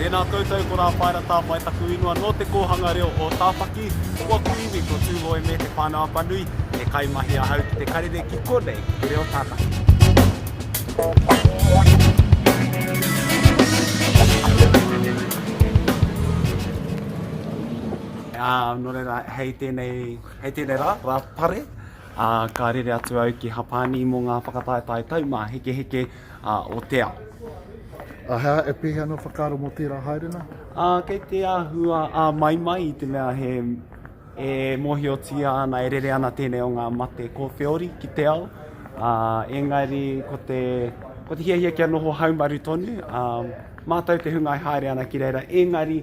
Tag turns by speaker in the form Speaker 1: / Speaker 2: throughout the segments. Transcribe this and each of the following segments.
Speaker 1: Tēnā koutou, ko Rā Paera Tāpae taku ingoa nō Te Kōhanga Reo o Tāwhaki. Ko aku iwi ko Tūhoe me Te Whānau-a-Panui. He kaimahi ahau ki te karere ki konei ki te reo Tākati. Ā, nō reira, hei tēnei, hei tēnei rā, rā pare, ā, ka rere atu au ki Hapani mō ngā whakataetae taumāhekeheke ā, o te ao. Ā, he
Speaker 2: aha, e pēhea ana ō whakaaro mō tērā haerenga? Ā, kei te
Speaker 1: āhua āmaimai i te mea he, e mōhiotia ana, e rere ana tēnei o ngā mate kōwheori ki te ao, ā, engari ko te, ko te hiahia kia noho haumaru tonu, ā, mātau te hunga e haere ana ki reira, engari,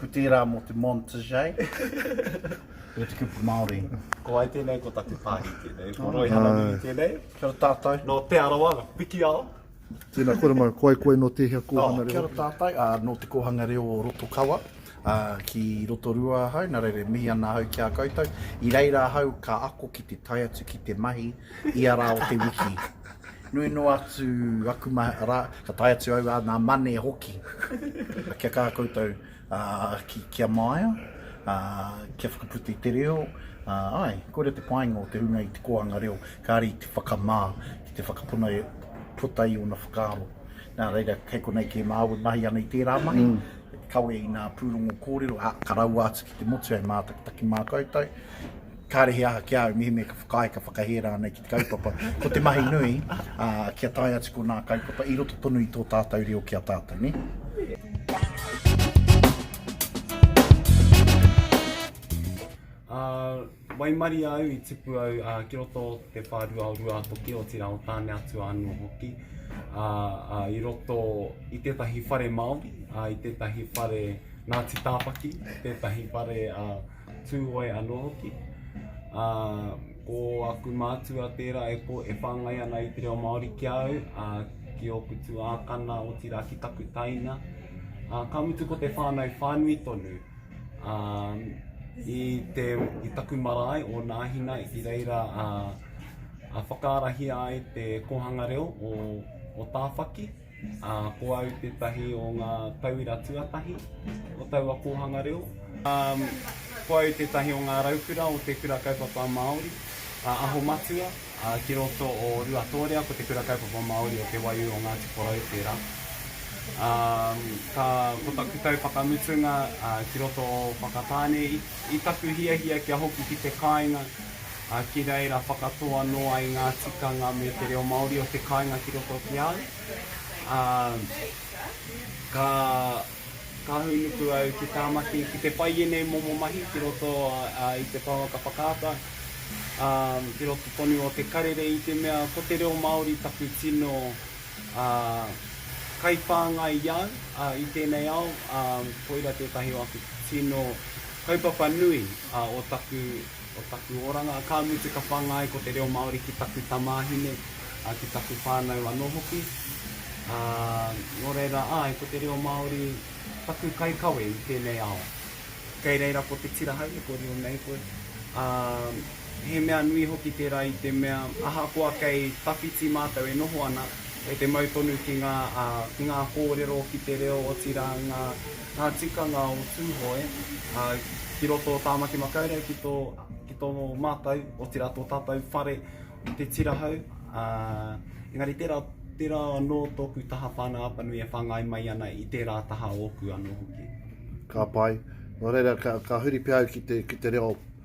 Speaker 2: Ko tērā mō te montage. Ko te kupu Māori. Ko ai tēnei, ko
Speaker 1: taku pāhi tēnei. Ko Roy Hananui tēnei. Kia ora tātou. Nō
Speaker 2: Te Arawa, nō
Speaker 1: Pikiao. Tēnā koutou
Speaker 2: mau, ko ai koe nō tēhea kōhanga reo? Kia ora tātou, ā, nō
Speaker 3: te kōhanga reo o Rotokawa, ā, ki Rotorua ahau, nā reira e mihi ana ahau ki a koutou. I reira ahau ka ako ki te tae atu ki te mahi ia rā o te wiki. Nui noa atu aku ma, ra, ka tae atu au a nga mane hoki. Kia ka koutou ki, kia maia, kia whakaputa i te reo, ae, koira te painga o te runga i te koanga reo, kare i te whakama, ki te whakapona e puta i ona whakaaro. Na reira, kei konei ke maui mahi ana i tera mahi, kawe i nga purongo korero, a, ka raua atu ki te motu e matakitaki ma koutou. Kāre he aha ki a au, mihi me ka whakaae, ka whakahē rānei ki te kaupapa, ko te mahi nui, ā, kia tae atu ko nā kaupapa i roto tonu i tō tātou reo ki a tātou, nē?
Speaker 1: Ā, waimarie au i tipu au ā, ki roto o te whārua o Ruātoki, otirā o Tāneatua anō hoki. Ā, ā, i roto i tētahi whare Māori, ā, i tētahi whare Ngāti Tāwhaki, tētahi whare ā, Tūhoe anō hoki. Ā, ko aku mātua tērā e ko, e whāngai ana i te reo Māori ki a au, ā, ki ōku tuākana, otirā ki taku taina. Ā, ka mutu ko te whānau whānui tonu. Ā, i te, i taku marae o Nāhina i reira a, a whakaarahia ai te kōhanga reo o, o Tāwhaki. Ā, ko au tētahi o ngā tauira tuatahi o taua kōhanga reo. Ā, ko au tētahi o ngā raukura o Te Kura Kaupapa Māori a Aho Matua, ā, ki roto o Ruatōrea ko Te Kura Kaupapa Māori o Te Waiū o Ngāti Porou tērā. Ā, ka, ko taku tau whakamutunga, ā, ki roto o Whakatāne, i, i taku hiahia kia hoki ki te kāinga, ā, ki reira whakatō anō ai ngā tikanga me te reo Māori o te kāinga ki roto ki a au, ā, ka, ka hūnuku au ki Tāmaki ki te whai ēnei momo mahi ki roto i te pouaka whakaata, ā, ki roto tonu o te karere i te mea ko te reo Māori taku tino, ā, kaiwhāngai i au, ā, i tēnei ao, ā, koira tētahi o aku tino kaupapa nui, ā, o taku. O taku oranga, ka mutu ka whangai ko te reo Māori ki taku tamāhine, ā, ki taku whānau anō hoki. Ā, nō reira, āe, ko te reo Māori taku kaikawe i tēnei ao. Kei reira ko te tira haere ko reo nei koe. Ā, he mea nui hoki tērā i te mea, ahakoa kei tawhiti mātou e noho ana, e te mau tonu ki ngā, ā, ki ngā kōrero, ki te reo, otirā ngā. Ngā tikanga o Tūhoe ki roto o Tāmaki Makaurau ki tō ki tō mātou, otirā tō tātou whare o Te Tirahau. Engari tērā, tērā anō tōku taha whānau Apanui e whāngai mai ana i tērā taha ōku anō hoki. Ka pai.
Speaker 2: Nō reira, ka, ka huri pea au ki te, ki te reo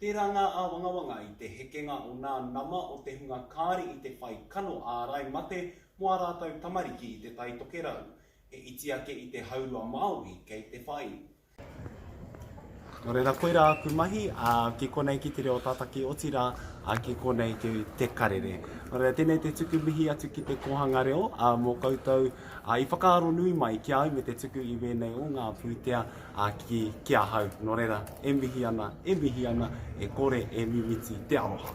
Speaker 1: Tērā ngā āwangawanga i te hekenga o ngā nama o te hunga kāri i te whai kano ārai mate mō ā rātou tamariki i Te Tai Tokerau, he iti ake i te haurua Māori kei te whai. Nō reira, koirā aku mahi, ā, ki konei ki te reo tataki, otirā, ā, ki konei ki Te Karere. Nō reira, tēnei te tuku mihi atu ki te kōhanga reo, ā, mō koutou, ā, i whakaaro nui mai ki a au me te tuku i wēnei o ngā pūtea, Ā, ki, ki ahau, nō reira, e mihi ana, e mihi ana, e kore e mimiti te aroha.